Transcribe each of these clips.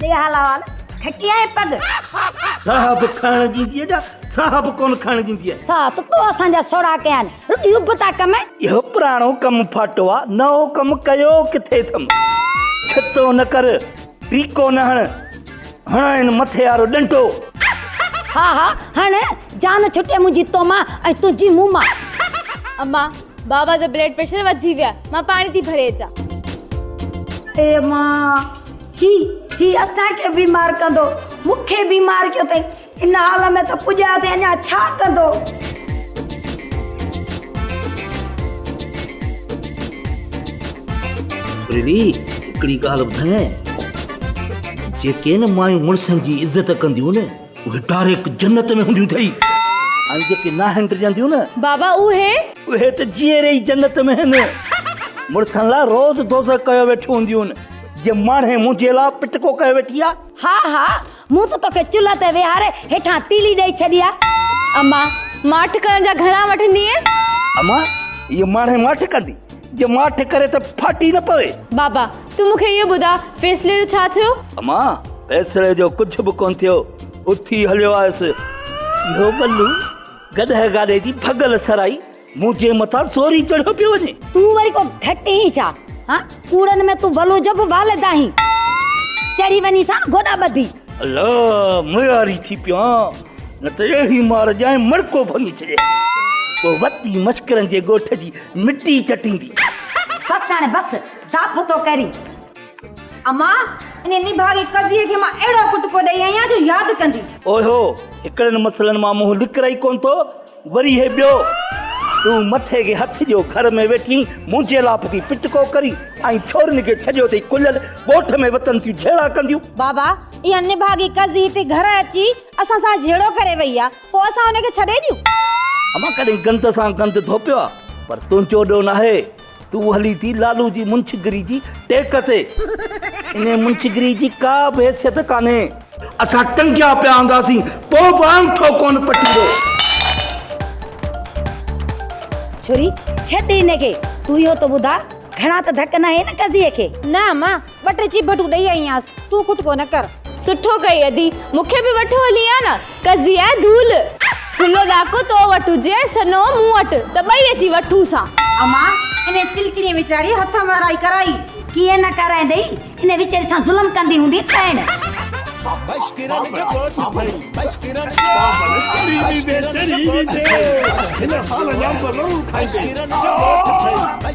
ڏي حال احوال ٺٽي آهي پڳ ساهه به کائڻ ڏيندي اڄا ساهه به ڪون کائڻ ڏيندي آهي ساهه ته تو اسان جا سوڙا ڪيا آهن رڳي اڀ تا ڪم اهو پراڻو ڪم ڦاٽو آ نئون ڪم ڪيو ڪٿي اٿم ڇتو نه ڪر ٽيڪو نه هڻ، هڻائين مٿي وارو ڏنڊو. ها ها هڻ، جان ڇٽي منهنجي تو مان ۽ تنهنجي مون مان. اما، بابا جو بلڊ پريشر وڌي ويو آهي، مان پاڻي ٿي ڀري اچان. اي اما، هي، هي اسان کي بيمار ڪندو، مون کي بيمار ڪيو اٿئي. ان حال ۾ ته پڄايو ٿي اڃا ڇا ڪندو. ڇوريلي هڪڙي ڳالهه ٻڌايانء جيڪي نه مايون مڙسن جي عزت ڪنديون نه اهي ڊاريڪ جنت ۾ هونديون ٿئي ۽ جيڪي ناهن ڊڄنديون نه بابا اهي اهي ته جيئري ئي جنت ۾ هن مڙسن لاء روز دوزخ ڪيو ويٺيون هونديون جي ماڻهي منهنجي لاء پٽڪو ڪيو ويٺي آ. ها ها مون ته توکي چلهه تي ويهاري هيٺان تيلي ڏئي ڇڏي آ. اما، ماٺ ڪرڻ جا گهڻا وٺندينء؟ اما، هيء ماڻهي ماٺ ڪندي، جي ماٺ ڪري ته ڦاٽي نه پوي. بابا، تون مون کي اهو ٻڌاء، فيصلي جو ڇا ٿيو؟ اما، فيصلي جو ڪجهه به ڪونه ٿيو. اٿي هليو آيس. اهو ٻلو گڏهه گاڏي جي ڀڳل سرائي. منهنجي مٿان سوري چڙهيو پيو وڃي. تون وري ڪو گهٽ هين ڇا؟ هان ڪوڙن ۾ تون ولو جو به وال ادا هين. چڙهي وڃي سان گوڏا ٻڌي. الا مياري ٿي پيو هان نه ته اهڙي مار ڄائين مڙڪو ڀڱي ڇڏيئي. پوء وتي مشڪرن جي ڳوٺ جي مٽي چٽيندي. بس هاڻي بس ضعف ٿو ڪرين. اما انهي نڀاڳي قضيي کي مان اهڙو ڪٽڪو ڏئي آئي آهيان جو ياد ڪندي. اوهو هڪڙن مسئلن مان منهن لڪرائي ڪونه ٿو. وري هي ٻيو، تون مٿي کي هٿ ڏيو، گهر ۾ ويٺين منهنجي لاپ ٿي پٽ ڪو ڪرين ۽ ڇورين کي ڇڏيو اٿئي ڪليل، ڳوٺ ۾ وتن ٿيون جهيڙا ڪنديون. بابا، اها نڀاڳي ڪز هتي گهر اچي اسان سان جهيڙو ڪري وئي آ، پوء اسان ان کي ڇڏي ڏيون؟ امان ڪڏهن گند سان گند ڌوپيو آ، پر تنهنجو ڏوهه ناهي. تون هلين ٿي لالو جي منشگري جي ٽيڪ تي. انهيء منشگري جي ڪا به حيثيت ڪانهي. اسان ٽنگيا پيا هونداسين، پوء به آڱٺو ڪونه پٽيندو. ڇوري، ڇڏ هن کي. تون اهو ته ٻڌاء، گهڻا ته ڌڪ ناهي نه قضيي کي؟ نه امان، ٻه ٽي چيڀٽون ڏئي آئينس تون خود ڪو نه ڪر. سٺو ڪئي ادي مون کي به وٺو هلي ها نه ڪزي ها ڌول. ٿلهو ڏاڪو تو وٽ هجي سنو مون وٽ ته ٻئي اچي وٺون سان. امان انهي تلڪڻي ويچاري هٿ مهرائي ڪرائي. ڪيئن نه ڪرائيندئي انهي ويچاري سان ظلم ڪندي هوندي ڏائڻ. بش ڪرڻ جو ڳوٺ ٿئي بش ڪرڻ جو ڳوٺ ٿئي بش ڪرڻ جو ڳوٺ ٿئي.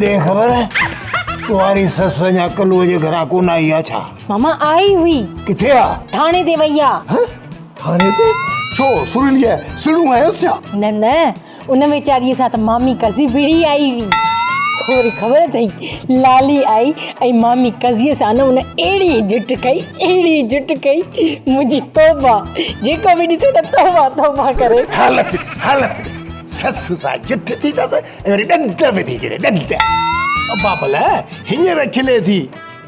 ڏي خبر تمهاري سس اڃا ڪلوء جي گھران ڪون آئي آ ڇا ماما آئي هئي ڪٿي آ ٿاڻي تي وئي آ ٿاڻي تي ڇو سورليء سڻو آيس ڇا نه نه ان ويچاريء سان ته مامي ڪزي وڙهي آئي هئي. ٿوري خبر اٿئي، لالي آئي ۽ مامي ڪزيء سان نه ان اهڙي جٽ ڪئي، اهڙي جٽ ڪئي، منهنجي توبه! جيڪو به ڏسي نه توبه توبه ڪري. حالت ڏس، حالت ڏس، سس سان جٺ ٿي اٿس ۽ وري ڏند وڌي ڇڏيا، ڏند! بابل هينئر کلي ٿي.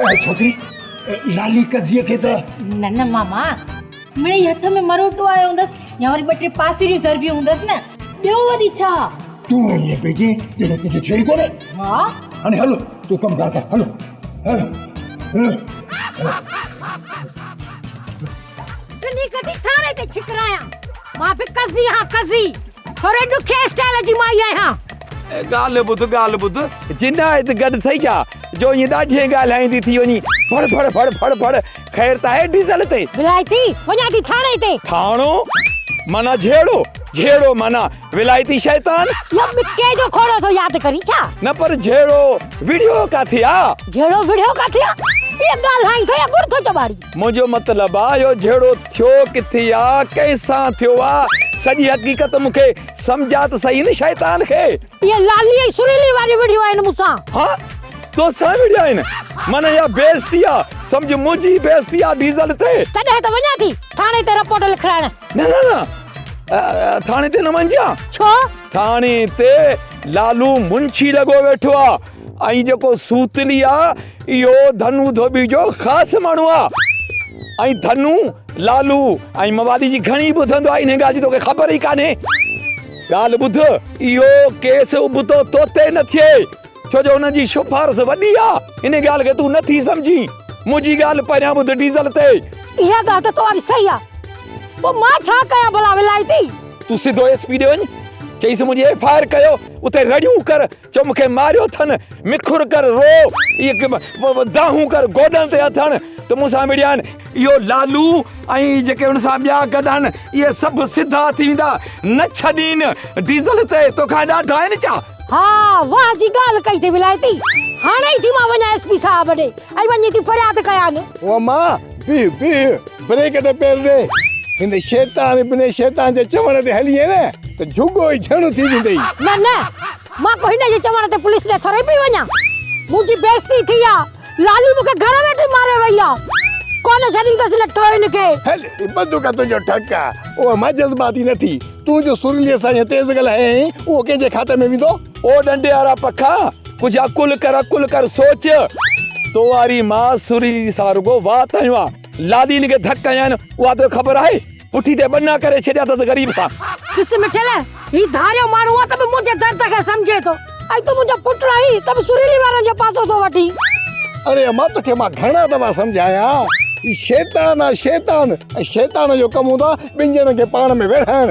اهي ڇوڪري لالي قضيه کي ته نه نه ماما مڙي هٿ ۾ مروٽو آيو هوندس يا وري ٻه ٽي پاسريون ضربيون هوندس نه ٻيو وري ڇا تون ائين پئي چين ڄڻ تنهنجو ڇو ئي ڪونهي ها هاڻي هلو تون ڪم ڪار ڪر هلو هلو هلو ٽنهي ڪڍي ٿاني تي ڇڪرايان. مان به قضي هان قضي. ٿوري ڏکي اسٽائيل جي مائي آهيان. ڳالهه ٻڌ ڳالهه ٻڌ. جنائد گڏ ٿئي جا. جو ائين ڏاڍيئي ڳالهائيندي ٿي وڃي. ڦڙ ڦڙ ڦڙ ڦڙ ڦڙ. خير ته آهي ڊيزل تي. ولايتي وڃان ٿي ٿاني تي. ٿانو معنيٰ جهيڙو. جهيڙو معنيٰ ولايتي شيطان. اهو مڪي جو کوڙو ٿو ياد ڪرين ڇا؟ نه پر جهيڙو وڙهيو ڪاٿي آ؟ جهيڙو وڙهيو ڪاٿي آ؟ اهي ڳالهائين ٿو يا ٻڙ ٿو چٻاڙين؟ منهنجو مطلب آ اهو جهيڙو ٿيو ڪٿي آ ڪنهن سان ٿيو آ سڄي حقيقت مون کي سمجهاء ته سهي ان شيطان کي. اهي لالي ۽ سريلي واريون وڙهيون آهن مون سان. ها توسان وڙهيا آهن معنيٰ اها بيعزتي آ سمجهه منهنجي بيعزتي آ ڊيزل تي. تڏهن ته وڃان ٿي ٿاڻي تي رپورٽ لکرائڻ. نه نه نه ٿاڻي تي نه وڃجان. ڇو؟ ٿاڻي تي لالو منشي لڳو ويٺو آ. ۽ جيڪو سوتلي آ اهو ڌنو ڌوٻي جو خاص ماڻهو آ ۽ ڌنو لالو ۽ موالي جي گهڻي ٻڌندو آ انهي ڳالهه جي توکي خبر ئي ڪانهي ڳالهه ٻڌ اهو ڪيس ابتو توتي نه ٿئي ڇو جو هن جي شفارس وڏي آ انهي ڳالهه کي تون نه ٿي سمجهين منهنجي ڳالهه پهريان ٻڌ ڊيزل تي اها ڳالهه ته توهان جي صحيح آ پوء مان ڇا ڪيان ڀلا ولائتي. تون سڌو ايس پي ڏي وڃ چئيس منهنجي ايف آء آر ڪيو اتي رڙيون ڪر چؤ مون کي ماريو اٿن، مکر ڪر رو، دانهون ڪر گوڏن تي اٿن ته مون سان وڙهين. اهو لالو ۽ جيڪي ان سان ٻيا گڏ آهن، اهي سڀ سڌا ٿي ويندا. نه ڇڏين ڊيزل تي، تو کان ايڏا ڊاهن ڇا؟ ها، واهه جي ڳالهه ڪئي ٿي ولايتي. هاڻي ئي ٿي مان وڃان ايس پي صاحب ڏي ۽ وڃي ٿي فرياد ڪيان. اما بيهه بيهه. بريڪ تي پير ڏي. هن شيطان ابن شيطان جي چوڻ تي هليئي نه ته جهڳو ئي جهڻو ٿي ويندئي. نه نه مان ڪو هن جي چوڻ تي پوليس ڏي ٿورئي پئي وڃان. منهنجي بيعزتي ٿي آ. لالي مون کي گهر ويٺي ماري وئي آ. ڪونه ڇڏيندس لٽو هن کي. هل هي بندوق تنهنجو ٺڪ آ. اهو مان جذباتي نه ٿي. تون جو سرليء سان ائين تيز ڳالهايين اهو ڪنهن جي کاتي ۾ ويندو. او ڏنڊي وارا پکا ڪجهه عقل ڪر عقل ڪر سوچ. تو واري مان سرلي سان رڳو وات هنيو آ. لادين کي ڌڪ هنيائين، اها توکي خبر آهي؟ پٺي تي ٻنا ڪري ڇڏيا اٿس غريب سان. ڏس مٺيل، هي ڌاريو ماڻهو آهي ته به منهنجي درد کي سمجهي ٿو ۽ تون منهنجو پٽ آهين ته به سريلي وارن جو پاسو ٿو وٺين. اڙي امان، توکي مان گهڻا دفعا سمجهايا، هي شيطان آهي شيطان ۽ شيطان جو ڪم هوندو آهي ٻن ڄڻن کي پاڻ ۾ ويڙهائڻ.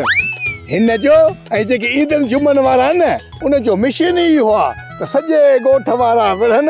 هن جو ۽ جيڪي عيدن جمعن وارا آهن نه، ان جو مشن ئي اهو آهي ته سڄي ڳوٺ وارا وڙهن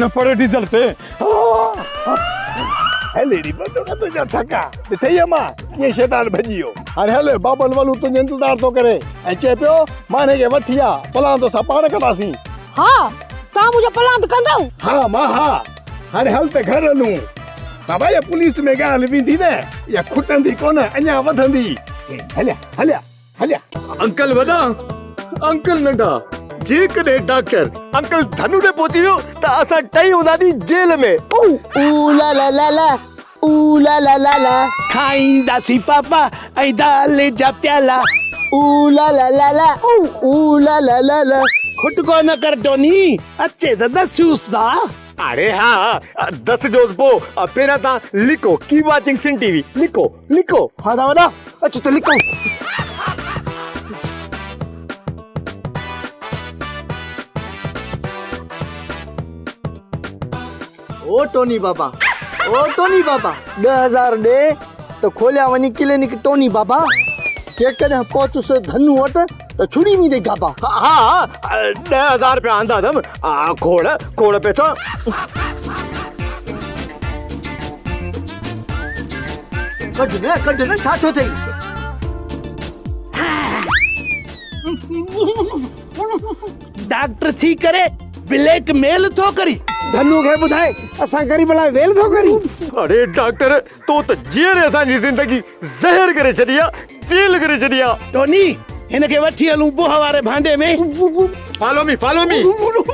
نه پڙهي ڊيزل تي هي ليڙي بندو نه تنهنجا ٿڪا ڏٺئي اما ڪيئن شيطان ڀڄي ويو هاڻي هل بابل ولو تنهنجو انتظار ٿو ڪري ۽ چئي پيو ماني کي وٺي آ پلان توسان پاڻ ڪنداسين ها تان منهنجو پلان ته ڪندو ها ما ها هاڻي هل ته گهر هلون بابا يا پوليس ۾ ڳالهه ويندي نه يا کٽندي ڪونه اڃا وڌندي هليا هليا هليا. انڪل وڏا، انڪل ننڍا، جيڪڏهن ڊاڪٽر انڪل ڌنو ڏي پهچي ويو ته اسان ٽئي هونداسين جيل ۾. اوه اوه لا لا لا لا، اوه لا لا لا لا. کائينداسين ڦافا ۽ دال جا پيالا. اوه لا لا لا لا، اوه اوه لا لا لا لا. کٽڪو نه ڪر ڊوني، اچي ته ڏسيوس ٿا. اڙي ها، ڏسجوس پوء. پهريان تان لکو، keep watching Sindh T V. لکو، لڪو ها ٿا وڏا اچ ته لڪو او ٽوني بابا او ٽوني بابا ڏه هزار ڏي ته کوليا وڃي ڪلينڪ ٽوني بابا جيڪڏهن پهتس ڌنو وٽ ته ڇڙي ويندي گابا. ها ها ڏهه هزار رپيا آندا اٿم کوڙ کوڙ پئسا. ڪڍ نه ڪڍ نه ڇا ٿيو ٿئي. ڊاڪٽر ٿي ڪري بليڪ ميل ٿو ڪرين. ڌنو کي ٻڌائي اسان غريب لاء ويل ٿو ڪرين. اڙي ڊاڪٽر. تو ته جيئري اسان جي زندگي زهر ڪري ڇڏي آ جيل ڪري ڇڏي آ. ٽوني هن کي وٺي هلون بوهه واري ڀانڊي ۾. فالو مي فالو مي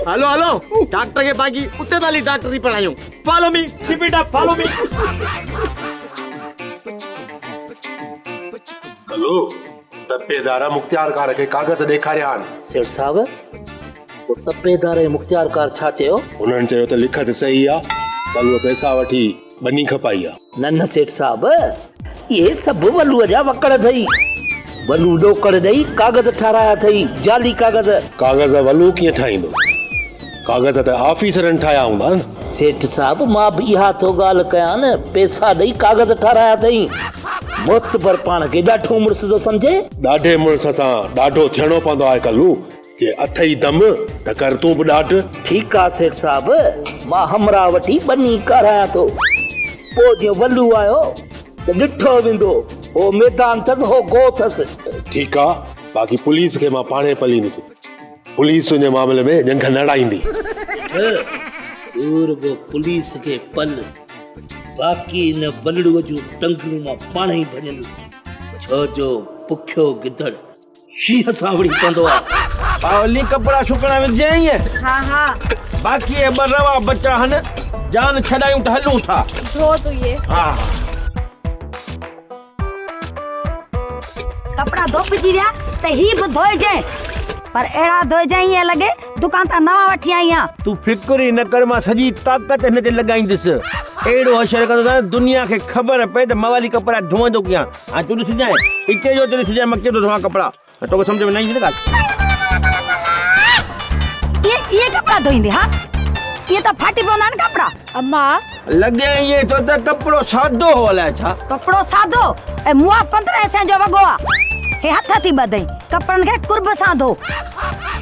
هلو هلو ڊاڪٽر کي باقي اتي ته هلي ڊاڪٽري پڙهايون follow me keep it up follow me. هلو تپيدار مختيارڪار کي ڪاغذ ڏيکاريان. سيٺ صاحب هو تپيدار ۽ مختيارڪار ڇا چيو؟ هنن چيو ته لکت صحيح آ پر هو پئسا وٺي. ٻني کپائي آ. نه نه سيٺ صاحب اهي سڀ ولوء جا وڪڙ اٿئي. ولوء ڏوڪڙ ڏئي ڪاغذ ٺارايا اٿئي، جعلي ڪاغذ. ڪاغذ ولوء ڪيئن ٺاهيندو؟ ڪاغذ ته آفيسرن ٺاهيا هوندا نه. سيٺ صاحب مان به اها ٿو ڳالهه ڪيان نه پئسا ڏئي ڪاغذ ٺارايا اٿئي. معتبر پاڻ کي ڏاڍو مڙس ٿو سمجهي. ڏاڍي مڙس سان ڏاڍو ٿيڻو پوندو آهي ڪلو. جي اٿئي دم ته ڪر تون به ڏاڍ. ٺيڪ آ سيٺ صاحب مان همراهه وٺي ٻني ڪارايان ٿو پوء جيئن ولو آيو ته ڏٺو ويندو هو ميدان ٿس هو گوء ٿس. ٺيڪ آ باقي پوليس کي مان پاڻهي پليندس پوليس تنهنجي معاملي ۾ ڄنگهه نه اڙائيندي. سيٺ تو رڳو پوليس کي پل باقي ان ولڙو جون ٽنگون مان پاڻهي ڀڃندس ڇو جو بکيو گدڙ. شينهن سانوڻي پوندو آ. ٻاولي ڪپڙا سڪڻ وجهين ائين. ها ها. باقي اهي ٻه روا بچا هن. جان ڇڏايون ته هلون ٿا. ڌو تون اهي. ها ها. ڪپڙا ڌوپجي ويا ته هي به ڌوئجين. پر اهڙا ڌوئجين ائين لڳي دڪان تان نوان وٺي آئي آهيان. تون فڪر ئي نه ڪر مان سڄي طاقت هن تي لڳائيندس. اهڙو حشر ڪندو ته دنيا کي خبر پئي ته موالي ڪپڙا ڌوئندو ڪيئن. هاڻي تون ڏسجانء، اتي جو اتي ڏسجانء، مان ڪيئن ٿو ڌوئان ڪپڙا؟ توکي سمجهه ۾ نه ايندي نه ڳالهه. ائين ائين ڪپڙا ڌوئيندين ها؟ ائين ته ڦاٽي پوندا آهن ڪپڙا. امان! لڳي ائين ٿو ته ڪپڙو سادو هو الائي ڇا؟ ڪپڙو سادو ۽ مون آ پندرهن سين جو وڳو آ. هي هٿ ٿي ٻڌئين، ڪپڙن کي قرب سان ڌو.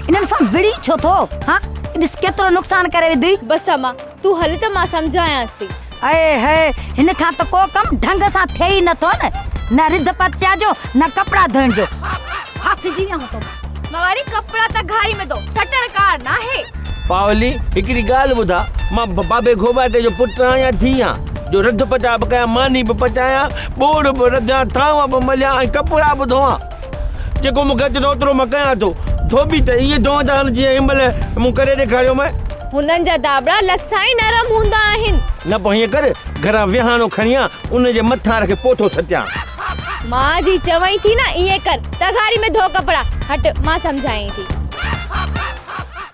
انهن سان وڙهين ڇو ٿو؟ ها؟ ڏس ڪيترو نقصان ڪري وڌئين. بس امان! تون هل ته مان سمجهايانس ٿي. اي هي! هن کان ته ڪو ڪم ڍنگ سان ٿئي ئي نه ٿو نه. نه رڌ پچيا جو نه ڪپڙا ڌوئڻ جو. ڦاسجي ويان هون توکان. مان وري ڪپڙا ته گهاري ۾ ٿو سٽڻ ڪار ناهي. پاولي، هڪڙي ڳالهه ٻڌاء، مان بابي گهوٻاٽي جو پٽ آهيان يا ڌيء آهيان، جو رڌ پچاء به ڪيان، ماني به پچايان، ٻوڙ به رڌيان، ٿانو به مليان ۽ ڪپڙا به ڌوئان. جيڪو مون کي اچي ٿو اوترو مان ڪيان ٿو. ڌوٻي ته ائين چون ٿا هلن جيئن هن مهل مون ڪري ڏيکاريومانء. هنن جا ڌاٻڙا لسا ۽ نرم هوندا آهن. نه پوء هيئن ڪر، گهران ويهاڻو کڻي آ، ان جي مٿان رکي پوٿو سٽيان. ماء جي چوين ٿي نه، ائين ڪر، تغاري ۾ ڌو ڪپڙا. هٽ، مان سمجهائين ٿي.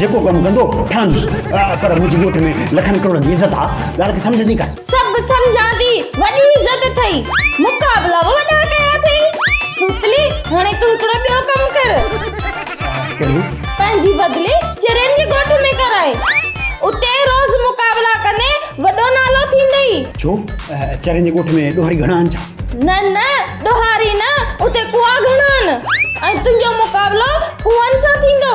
جيڪو ڪم ڪندو ٺهندس پر منهنجي ڳوٺ ۾ لکن ڪروڙن جي عزت آ ڳالهه کي سمجهندي ڪا سڀ سمجهان ٿي وڏي عزت اٿئي مقابلا به وڏا ڪيا اٿئي سوتلي هاڻي تون هڪڙو ٻيو ڪم ڪر ڪهڙو پنهنجي بدلي چرين جي ڳوٺ ۾ ڪرائي اتي روز مقابلا ڪندي وڏو نالو ٿيندئي ڇو چرين جي ڳوٺ ۾ ڏوهاري گهڻا آهن ڇا نه نه ڏوهاري نه اتي ڪوئا گهڻا آهن ۽ تنهنجو مقابلو ڪوئن سان ٿيندو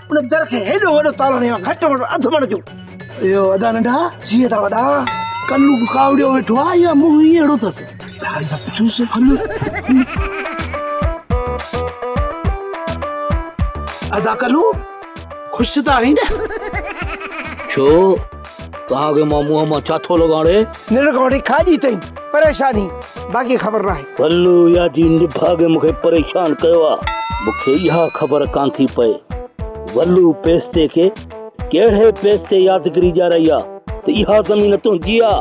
ان در کي هيڏو وڏو تالو هڻيو آهي، گهٽ وڌ اڌ مڻ جو. اهو ادا ننڍا جيئن تان وڏا. ڪلو به ڪاوڙيو ويٺو آهي يا منهن ئي اهڙو اٿس. ڌاري تان پڇوس ڪلو. ادا ڪلو خوش ته آهين نه. ڇو؟ توهان کي مان منهن مان ڇا ٿو لڳاڙي؟ ننڊ کان وٺي کاڄي تائين پريشاني باقي خبر ناهي. بلو يا جي نڀاڳي مون کي پريشان ڪيو آ. مون کي اها خبر ڪانه ٿي پئي بلو پيستي کي ڪهڙي پيستي يادگري ڏيارائي آ ته اها زمين تنهنجي آ.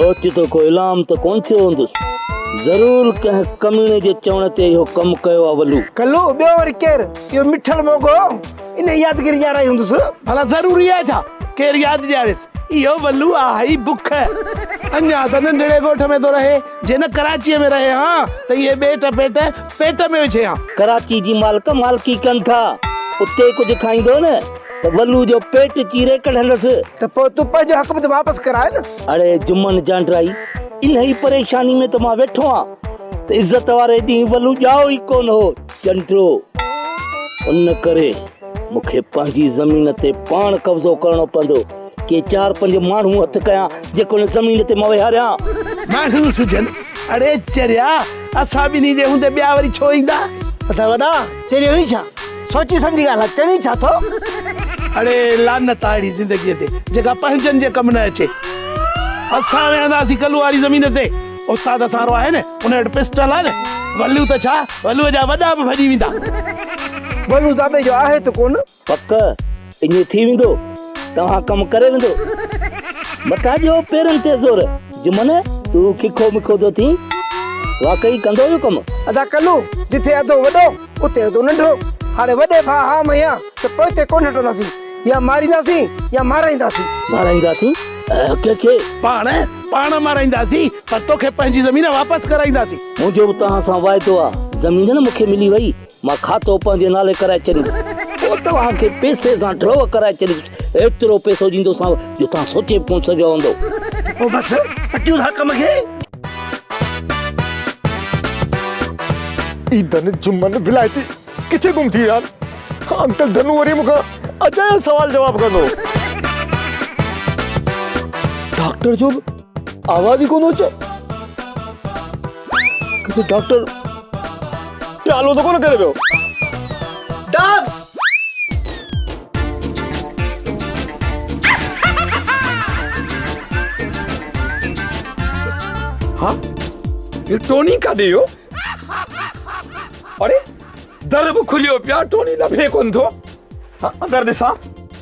اوچتو ڪو اعلام ته ڪونه ٿيو هوندس. ضرور ڪنهن ڪميڻي جي چوڻ تي اهو ڪم ڪيو آ بلو. بلو ٻيو وري ڪير؟ اهو مٺل موڳو. انهيء يادگيري ڄاڻائي هوندس. ڀلا ضروري آهي ڇا ڪير ياد ڏياريس اهو ولو آهي بک. اڃا ته ننڍڙي ڳوٺ ۾ ٿو رهي، جي نه ڪراچيء ۾ رهي هان ته اهي ٻيٽ پيٽ پيٽ ۾ وڇي هان. ڪراچي جي مالڪ مالڪي ڪن ٿا، اتي ڪجهه کائيندو نه ته ولو جو پيٽ چيري ڪڍندس. ته پوء تون پنهنجو حق به ته واپس ڪراء نه. اڙي جمن جانڊرائي، انهيء پريشاني ۾ ته مان ويٺو آهيان ته عزت واري ڏينهن ولو ڄائو ئي ڪونه هو. چنڊو، ان ڪري مون کي پنهنجي زمين تي پاڻ قبضو ڪرڻو پوندو. ڪي چار پنج ماڻهو هٿ ڪيان، جيڪو هن زمين تي مان ويهاريان. ماڻهو سجن، اڙي چريا، اسان ٻنهي جي هوندي ٻيا وري ڇو ايندا؟ اٿا وڏا، چريو هي ڇا؟ سوچي سمجهي ڳالهاء، چوين ڇا ٿو؟ اڙي لعنت آ اهڙي زندگيء تي، جيڪا پنهنجن جي ڪم نه اچي. اسان ويهنداسين ڪلهو واري زمين تي. استاد اسان وارو آهي نه ان وٽ پسٽل آهي نه ولو ته ڇا ولو جا وڏا به ڀڄي ويندا ولو دادي جو آهي ته ڪونه پڪ ايئن ٿي ويندو توهان ڪم ڪري ويندو بتا جو پيرن تي زور جمن تون ککو مکو ٿو ٿين واقعي ڪندو اهو ڪم ادا ڪلو جٿي اڌو وڏو اتي هوندو ننڍو، هاڻي وڏي ڀاء ها ميان ته پوء اتي ڪونه هٽنداسين، يا مارينداسين يا مارائينداسين. مارائينداسين ڪنهن کي؟ پاڻ، پاڻ مارائينداسين پر توکي پنهنجي زمين واپس ڪرائينداسين. منهنجو به توهان سان واعدو آ، زمين نه مون کي ملي وئي، مان کاتو پنهنجي نالي ڪرائي ڇڏيندس، پوء توهان کي پئسي سان ڊرو ڪرائي ڇڏيندس، ايترو پئسو ڏيندوسانو جو توهان سوچي به ڪونه سگهيا هوندو. پوء بس، پٽيون ٿا ڪم کي. اي ڌن جمن ولائتي ڪٿي گم ٿي ويا آهن انڪل ڌنو وري مون کان اجايا سوال جواب ڪندو. ڊاڪٽر جو به آواز ئي ڪونه اچي ڪٿي ڊاڪٽر پيالو ته ڪونه ڪري ويو. ڊاڪٽر ها هي ٽوني ڪاڏي ويو اڙي در به کليو پيو ٽوني لڀي ڪونه ٿو اندر ڏسان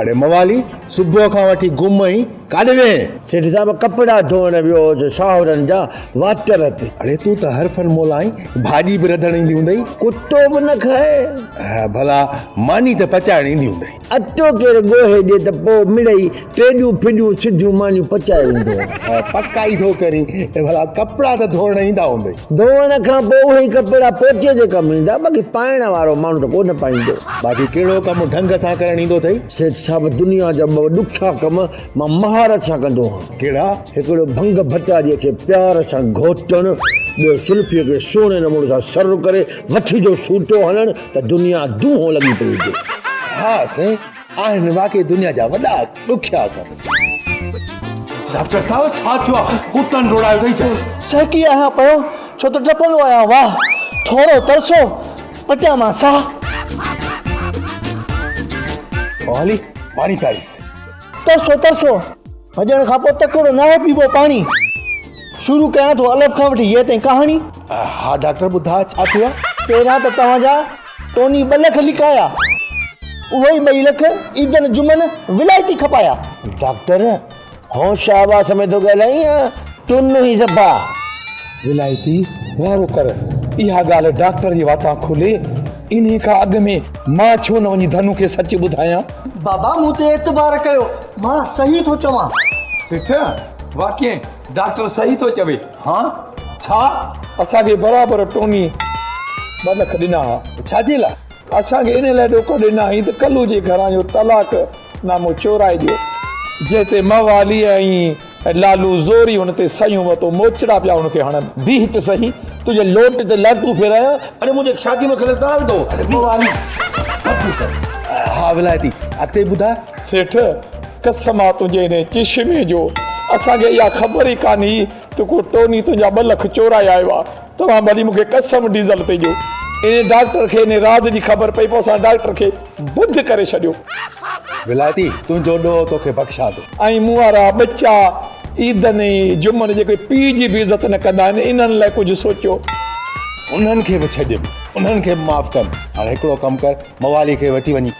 اڙي موالي صبح کان وٺي گم آهين ڪاڏي ويئي آهين. سيٺ صاحب ڪپڙا ڌوئڻ ويو هوس شاهورن جا واٽر تي. اڙي تون ته هر فن مولا آهين ڀاڄي به رڌڻ ايندي هوندئي. ڪتو به نه کائي. ڀلا ماني ته پچائڻ ايندي هوندئي. اٽو ڪير ڳوهي ڏي ته پوء مڙئي ٽيڏيون ڦيڏيون سڌيون مانيون پچائي ويندو هو. پڪ آئي ٿو ڪرين ته ڀلا ڪپڙا ته ڌوئڻ ايندا هوندئي. ڌوئڻ کان پوء اهي ئي ڪپڙا پوچي جي ڪم ايندا باقي پائڻ وارو ماڻهو ته ڪو نه پائيندو. باقي ڪهڙو ڪم ڍنگ سان ڪرڻ ايندو اٿئي؟ سيٺ صاحب دنيا جا ٻه ڏکيا ڪم مان مهارت سان ڪندو هان. ڪهڙا؟ هڪڙو ڀنگ ڀٽاريء کي پيار سان گهوٽڻ، ٻيو سلفيء کي سهڻي نموني سان سر ڪري وٺي جو سوٽو هڻڻ ته دنيا دونهون لڳي پئي هجي. ها سائين! آهن واقعي دنيا جا وڏا ڏکيا ڪم. ڊاڪٽر صاحب ڇا ٿيو آهي ڪتن ڊوڙايو اٿئي ڇا؟ سهڪي آهيان پيو ڇو ته ڊپندو آهيان واهه ٿورو ترسو پٽيان مان ساهه. او هلي پاڻي پياريس. ترسو ترسو. ڀڄڻ کان پوء تڪڙو ناهي پيبو پاڻي. شروع ڪيان ٿو الف کان وٺي يي تائين ڪهاڻي. ها ڊاڪٽر ٻڌاء ڇا ٿئي ها. پهريان ته توهان جا ٽوني ٻه لک لڪايا. اهي ئي ٻئي لک عيدن جمعن ولائتي کپايا. ڊاڪٽر هوش آواز ۾ ٿو ڳالهائين يا تون هين زبا. ولائتي وارو ڪر اها ڳالهه ڊاڪٽر جي واتان کولي انهي کان اڳ ۾ مان ڇو نه وڃي ڌنو کي سچ ٻڌايان. بابا مون تي اعتبار ڪيو. مان صحيح ٿو چوان. سيٺ، واقعي ڊاڪٽر صحيح ٿو چوي. ها، ڇا؟ اسان کي برابر ٽوني ٻه لک ڏنا ها. ڇا جي لاء؟ اسان کي ان لاء ڏوڪڙ ڏنا هئين ته ڪلو جي گهران جو طلاق نامو چورائي ڏيو. جنهن تي موالي ۽ لالو زوري هن تي سهيون وتو، موچڙا پيا هن کي هڻن. بيهه ته سهي، تنهنجي لوٽ تي لهٽون ڦيرايان. اڙي منهنجي شاديء ۾ خلل ڪانه وڌو. اڙي پوء والي سڀ ڪجهه ڪري. ها ولايتي، اڳتي ٻڌاء. سيٺ، قسم آ تنهنجي انهيء چشمي جو، اسان کي اها خبر ئي ڪانه هئي ته ڪو ٽوني تنهنجا ٻه لک چورائي آيو آ. توهان ڀلي مون کي قسم ڊيزل تي ڏيو. انهيء ڊاڪٽر کي انهيء راز جي خبر پئي، پوء اسان ڊاڪٽر کي بڌ ڪري ڇڏيو. ولايتي، تنهنجو ڏوهه تو کي بخشان ٿو. ۽ مون وارا ٻچا عيدن ۽ جمعن جيڪي پيء جي به عزت نه ڪندا آهن، انهن لاء ڪجهه سوچيو. انهن کي به ڇڏين، انهن کي به معاف ڪن. هاڻي هڪڙو ڪم ڪر، موالي کي وٺي وڃي.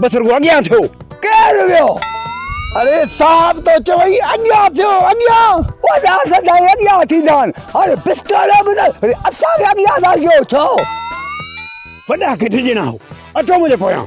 بس رڳو اڳيان ٿيو. ڪير ويو؟ اڙي صاحب تو چوئي اڳيان ٿيو اڳيان. وڏا سدائين اڳيان ٿيندا آهن. هاڻي پسٽوريو به ته وري اسان کي اڳيان ٿا ڪيو ڇو؟ وڏا ڪٿي ڄڻا هو اچو منهنجي پويان.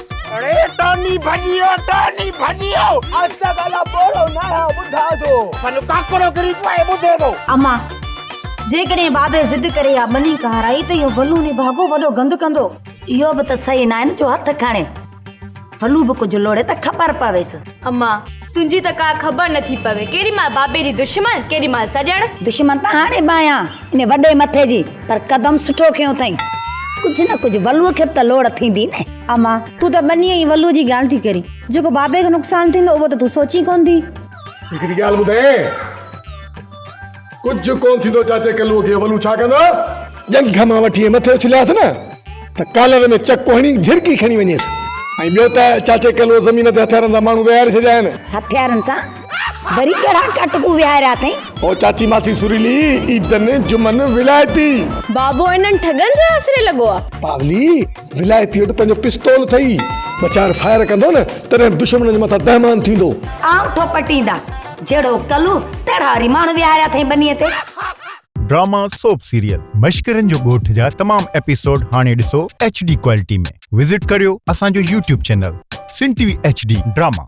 اڙي ٽاني ڀڄيو ٽاني ڀڄيو اسا گالا پورو نه ها ٻڌا ٿو سن ڪاڪرو گري پئي ٻڌي ٿو اما جيڪڏهن بابي ضد ڪري يا ٻني ڪهرائي ته اهو ڀلو ني ڀاڳو وڏو گند ڪندو اهو به ته صحيح ناهي نه جو هٿ کڻي ڀلو به ڪجهه لوڙي ته خبر پويس اما تنهنجي ته ڪا خبر نه ٿي پوي. ڪيڏي مهل بابي جي دشمن، ڪيڏي مهل سڄڻ. دشمن ته هاڻي به آهيان انهي وڏي مٿي جي، پر قدم سٺو کنيو اٿئين. ڪجهه نه ڪجهه ولوء کي به ته لوڙ ٿيندي نه. اما، تون ته ٻنهي ۽ ولوء جي ڳالهه ٿي ڪرين. جيڪو بابي کي نقصان ٿيندو، اهو ته تون سوچين ڪونه ٿي. هڪڙي ڳالهه ٻڌايانء. ڪجهه ڪونه ٿيندو چاچي ڪلوء کي اولو ڇا ڪندا؟ ڄنگهه مان وٺي ۽ مٿي اڇلياس نه ته ڪالر ۾ چڪو هڻي جهرڪي کڻي وڃيس ۽ ٻيو ته چاچي ڪلوء زمين تي هٿيارن سان ماڻهو ويهاري ڇڏيا آهن. هٿيارن سان وري ڪهڙا ڪاٽڪو ويهاريا اٿئين؟ او چاچي ماسي سريلي عيدن جمعن ولائتي. بابو انهن ٺڳن جي آسري لڳو آ. پاولي ولائتي وٽ پنهنجو پستول اٿئي، ٻه چار فائر ڪندو نه تڏهن به دشمنن جي مٿان دهمان ٿيندو. آئون ٿو پٽيندا. جهڙو ڪلو تهڙا وري ماڻهو ويهاريا اٿئي ٻنيء تي. ڊراما سوپ سيريل مشڪرين جو ڳوٺ جا تمام ايپيسوڊ هاڻي ڏسو HD ڪوالٽي ۾ وزٽ ڪريو اسان جو YouTube channel Sindh T V HD drama.